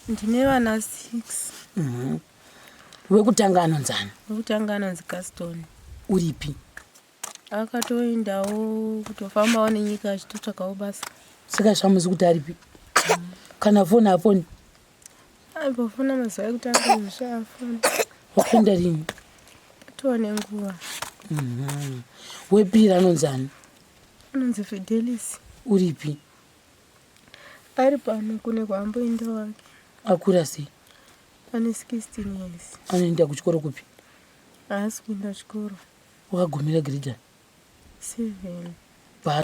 Ndine vana six. Mhm. Wekutanga anonzana? Wekutanga anonzi Gaston. Uripi? Akatoendawo kutofambawo nenyika achitotsvakawo basa. Saka zvamuzi kuti aripi? Kana foni hafoni? Aibofona mazuva ekutanga zvisha afona. Wakaenda rini? Atova nenguva. Mhm. Wepiri anonzana? Anonzi Fidelis. Uripi? Ari pano kune kwaamboenda wake. Akura sei? Ane 16 years. Anoenda kuchikoro kupi? Haasi kuenda kuchikoro. Wakagumira grade? Seven. Pa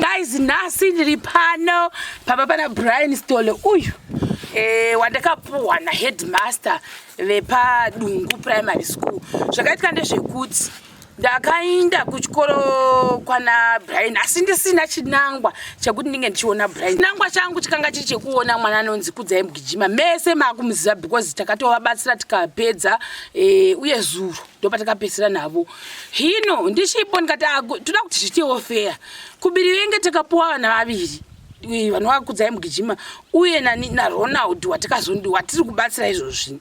guys nhasi ndiri pano pamba pana brian stole uyu eh, wandakapuhwa naheadmaster vepadungu primary school zvakaitika ndezvekuti ndakainda kuchikoro kwana brian asi ndisina chinangwa chekuti ndinge ndichiona brian chinangwa changu chikanga chiri chekuona mwana anonzi kudzai mugijima mese maakumuziva because takatovabatsira tikapedza e, uye zuro ndopatakapedzisira navo hino ndichipo ndikati ah, toda kuti zviitewo feya kubiri venge takapuwa vana vaviri eh, vanova kudzai mugijima uye nani naronald watikazondiwa ndiwa tiri kubatsira izvozvi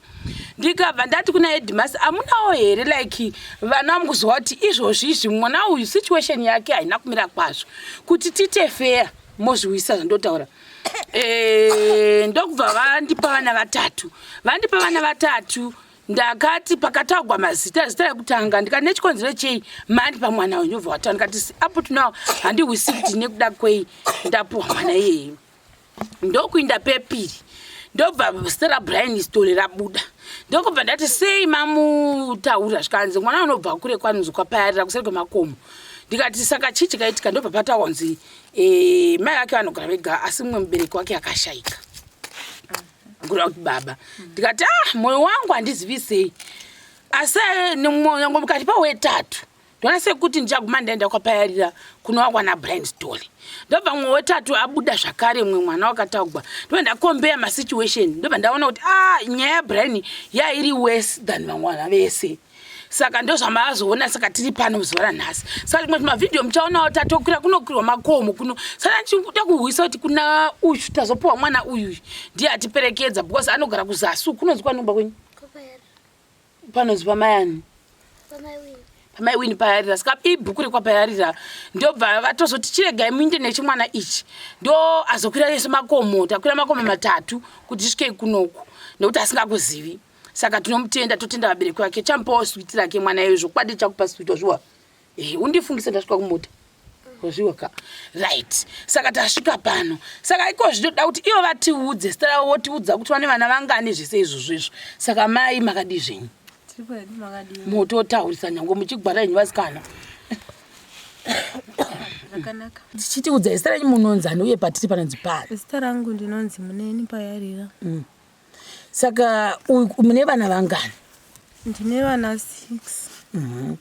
ndikabva ndati kuna edmas amunawo here like vana vamukuziva kuti izvozvi izvi mwana uyu situation yake haina kumira kwazvo kuti tite feya mozviwisa zvandotaura eh, ndokubva vandipa vana vatatu vandipa vana vatatu ndakati pakataugwa mazita zita rekutanga ndikati nechikonzero chei mandi pamwana wenyu obva wataura ndikati apo tinawo handihwisi kuti nekuda kwei ndapuwa mwana iyeyi ndokuinda pepiri ndobva zita rabrian stole rabuda ndokubva ndati sei mamutaura zvikanzi mwana unobva kure kwanonzi kwapayarira kuseri kwemakomo ndikati saka chii chikaitika ndobva patawanzi eh, mai vake vanogara vega asi mumwe mubereki wake akashaika kureva kuti baba ndikati ah moyo wangu handizivi sei asi nyangwe mukati pawetatu ndona sekuti ndichaguma ndaenda kwapayarira kunowakwana blind story ndobva mumwe wetatu abuda zvakare mumwe mwana wakataugwa ndoba ndakombeya masituation ndoba ndaona kuti ah nyaya yabrian yairi worse than vamwana vese saka ndozvamaazoona saka tiri pano zuva ranhasi saka rimwe zvimavhidhiyo muchaonawo tatokwira kunokwirwa makomo kuno saka ndichikuda kuhwisa kuti kuna uyu tazopiwa mwana uyu ndiye atiperekedza because anogara kuzasu kunonzi kwanomba kwenyu panonzi pamayani pamai wini payarira saka ibhuku rekwapayarira ndobva vatozoti chiregai muinde nechimwana ichi ndo azokwira yese makomo takwira makomo matatu kuti zvisvikei kunoku nekuti asingakuzivi saka tinomutenda totenda vabereki vake chamupawo switi rake mwana iyoyo zvokwadi chakupa switi wazviwa eh, undifungisa ndasvika kumota wazviwa ka right saka tasvika pano saka iko zvinoda kuti ivo vatiudze zita ravo votiudza kuti vane vana vangani zvese izvozvo izvo saka mai makadii zvenyu mototaurisa nyange muchigwara yenyu vasikana zvakanaka tichitiudza zita renyu munonzani uye patiri panonzi pari zita rangu ndinonzi muneni payarira mm. saka mune vana vangani ndine vana six mhm.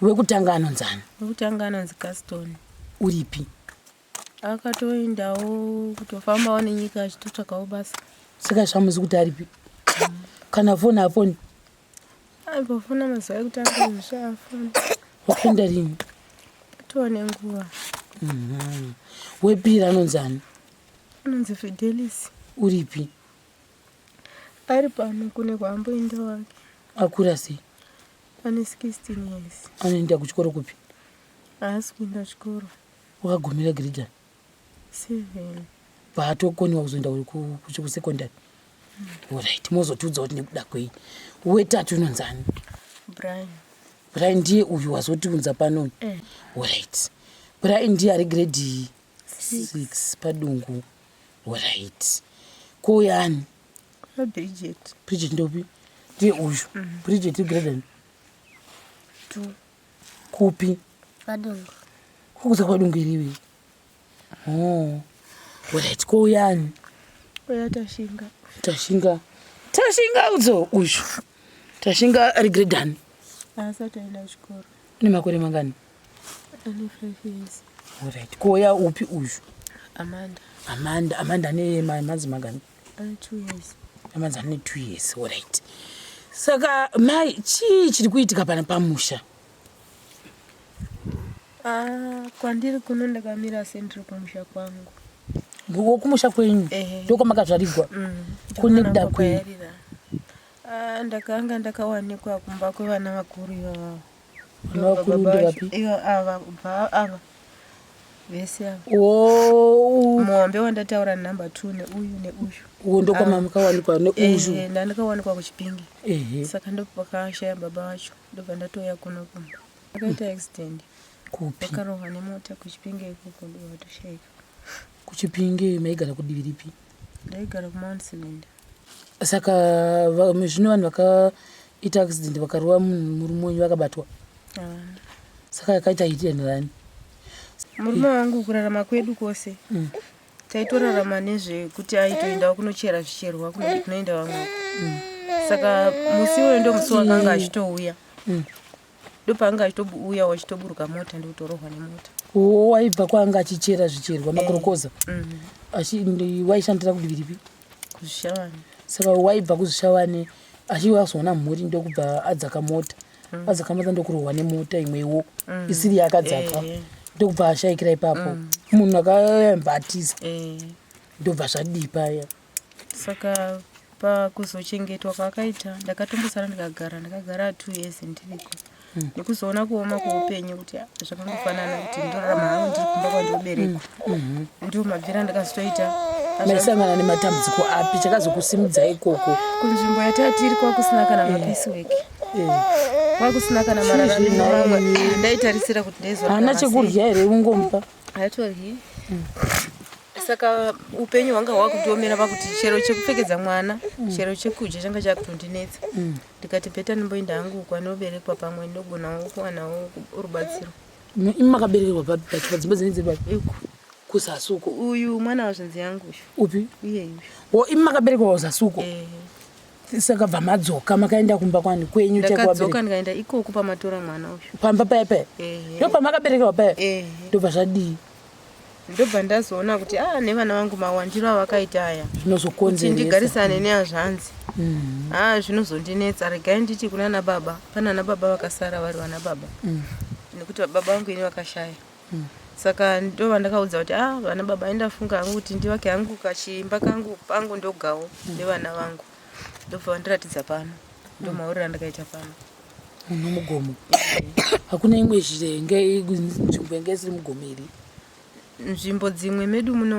wekutanga anonzi ani wekutanga anonzi gaston uripi akatoendawo kutofambawo nenyika achitotsvakawo basa saka zvamuzi kuti aripi mhm. kana foni afoni aipofona mazuva ekutanga zvishaafoni wakaenda rini tone nguva mhm. wepiri anonzi ani anonzi fidelis uripi ari pano kune kwaamboenda wake akura sei ane 16 years anoenda kuchikoro kupi haasi kuenda kuchikoro wakagumira girijani seven paatokoniwa kuzoenda kusekondary orit mozotiudza kuti nekuda kwei wetatu unonzani brian brian ndiye uyu wazotiunza pano orit eh. brian ndiye ari grade 6 padungu orit ko yani bridget bridget ndopi ndiye uyu mm. bridget graden kupi padungu kukuza kwadungu iriwi oh. orit ko yani uya tashinga tashinga tashinga udzo uyu tashinga ari gredani asati aenda kuchikoro une makore mangani Alright. Koya upi uyu? Amanda. Amanda, Amanda ane manzi magani? Ane 2 years. Amanzi ane 2 years. Alright. Saka mai chii chiri kuitika pana pamusha? Ah, kwandiri kuno ndakamira sendiri kumusha kwangu. Wo kumusha kwenyu? Ehe. Ndiko makazvarigwa. Mm. Kune kuda kwenyu. Ah, ndakanga ndakawanikwa kumba kwevana vakuru ivavo. muhombe wandataura number t neuyu neuyu uwo ndokwama mukawanikwa neuyu ndandikawanikwa kuchipingi saka ndopakashaya baba vacho ndobva ndatouya kuno kumba akaita accident kupi akarohwa nemota kuchipinge ikoko ndovatoshaika kuchipinge maigara kudivi ripi ndaigara kumount cylinder saka zvino vanhu vakaita accident vakarova munhu murume wenyu vakabatwa saka yakaita hiti and rani murume wangu kurarama kwedu kwose mm. taitorarama nezvekuti aitoenda kunochera zvicherwa kunoti kunoenda vamwe mm. saka musi iwoyo ndo musi wakanga mm. achitouya mm. ndopaanga achitouya wachitoburuka mota ndikutorohwa nemota waibva kwaanga achichera zvicherwa eh. makorokoza waishandira kudiviripi saka waibva kuzvishavane achive azoona mhuri ndokubva adzaka mota mm. adzaka mota ndokurohwa nemota imwewo mm. isiri yakadzaka eh, eh. ndokubva ashaikira ipapo mm. munhu akayamba atiza eh. ndobva zvadii paya saka pakuzochengetwa kwaakaita ndakatombosara ndikagara ndakagara two years ndiriko mm. nekuzoona kuoma kweupenyu kuti zvakangofanana kuti ndorarama hangu ndiri kumba kwandoberekwa mm. mm-hmm. ndiwo mabvira ndakazotoita maisangana nematambudziko api chakazokusimudza ikoko kunzvimbo yatatiri kwakusina kana eh. mapisi weki eh. kwakusina kana mararamamwe ndaitarisira kuti ndaizohana chekurya here ungomupa haitoryi mm. saka upenyu hwanga hwakutomera pakuti chero chekupfekedza mwana mm. chero chekudya changa chakutondinetsa ndikati bheta ndimboinda hangu kwanoberekwa pamwe ndogonawo kuwanawo rubatsiro imi makaberekerwa papi pachikwa dzimba dzine dziri papi iko kuzasuko uyu mwana wazvinzi yangu uyu upi iyeyu wo imi makaberekerwa kuzasuko eh. saka bva madzoka makaenda kumba kwani kwenyu chakadzoka ndikaenda ikoku pamatora mwana uyu pamba paya paya eh. ndo pamakaberekerwa paya eh. ndobva zvadii ndobva ndazoona kuti a ah, nevana vangu mawandiro avakaita aya zvinozokonzeresa ndigarisane neazvanzi a mm. ah, zvinozondinetsa regai nditi kuna na baba pana na baba vakasara vari vana baba mm. nekuti baba vangu ini vakashaya mm. saka ndova ndakaudza kuti a ah, vana baba indafunga hangu kuti ndivake hangu kachimba kangu pangu ndogawo nevana vangu ndobva vandiratidza pano ndomaurira ndakaita pano Muno mugomo hakuna imwe zvirenge nzvimbo inge isiri mugomo iri. Nzvimbo dzimwe medu muno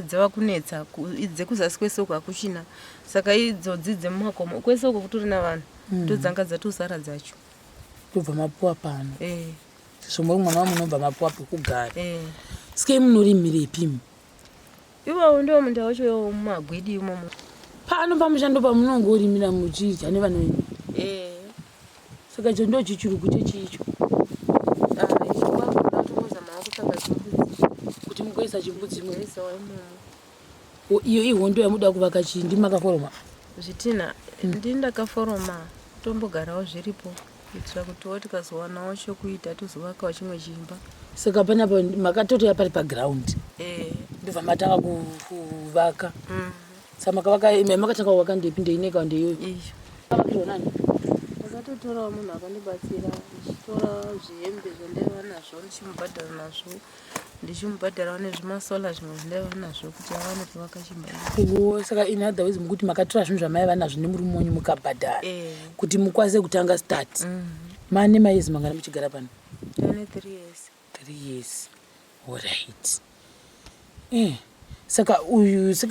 dzava kunetsa dzekuzasi kwese uko hakuchina saka idzodzi dzemumakomo kwese uko kutori na vanhu mm. ndodzanga dzatosara dzacho tobva mapuwa pano eh. zvombo mwana wamunobva mapuwa pekugara eh. sike munorimirepi mu Iwowo ndiwo munda wacho iwowo mumagwidi imomo. Pano pamusha ndo pamunongorimira muchidya nevana venyu. Eh. Saka icho ndo chichurugu chechii icho? Ah, icho kwakuda kutongozamawo kutsvaga chimbudzi. Kuti mugoisa chimbudzi imomo. Kuisawo imomo. O, Iyo ihondo yamuda kuvaka chii? Ndimi makaforoma. Zvitinha ndini ndakaforoma tombogarawo zviripo. kuitira kutiwo tikazowanawo chokuita tozovakawo chimwe chimba saka panapa makatotoya pari paground eh. ndobva matanga kuvaka mm. sa makavaka makatanga kuvaka ndepi ndeineka ndeiyoyo ndakatotorawo munhu akandibatsira ndichitora zvihembe zvandaiva nazvo ndichimubhadhara nazvo ndichimubhadharawo nezvimasola zvimwe zvindaiva nazvo kuti awane kuvaka chimba wo saka in other ways mukuti makatora zvinhu zvamaiva nazvo nemurume wenyu mukabhadhara Eh. kuti mukwanise kutanga start mane mayezi mangana muchigara pano ane three years three years orit eh. saka uyu saka